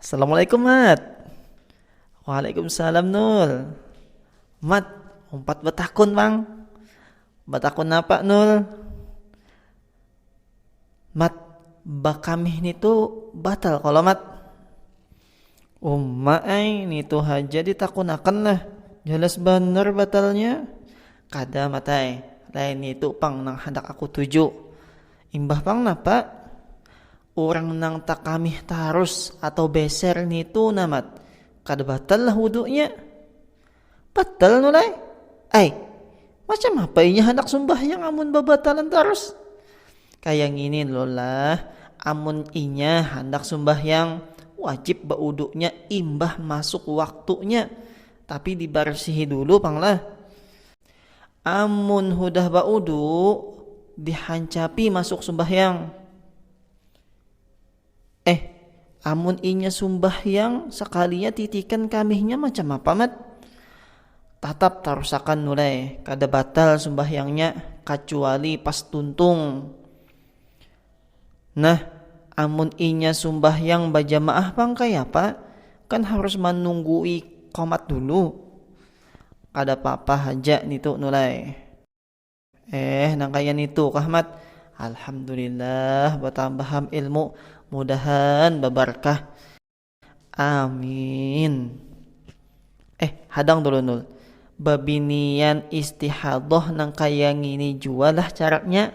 Assalamualaikum Mat Waalaikumsalam Nul Mat umpat betakun bang Betakun apa Nul Mat bakamih nitu batal kalau Mat Umma ai nitu haja ditakunakan lah jelas banar batalnya kada matai lain nitu pang nang handak aku tuju imbah pang napa urang nang takamih tarus atau beser nitu namat kada batal lah wudunya. Batal no lai. Ai, macam apa inya handak sumbahyang amun babatalan tarus? Kaya ngini lo lah, amun inya handak sumbahyang wajib bauduknya imbah masuk waktunya, tapi dibarsihi dulu pang lah. Amun hudah bauduk dihancapi masuk sumbahyang. Eh, amun inya sumbahyang sakalinya titikan kamihnya macam apa Mat? Tatap tarusakan Nulai, kada batal sumbahyangnya kacuali pas tuntung. Nah, amun inya sumbahyang bajamaah pang kayapa, kan harus manunggui qomat dulu. Kada papa haja nitu Nulai. Eh, nang kaya nitu kah, Mat? Alhamdulillah batambaham ilmu, mudahan babarkah. Amin. Eh, hadang dulu Nul. Babinian istihadoh nang kaya ngini jua lah caranya.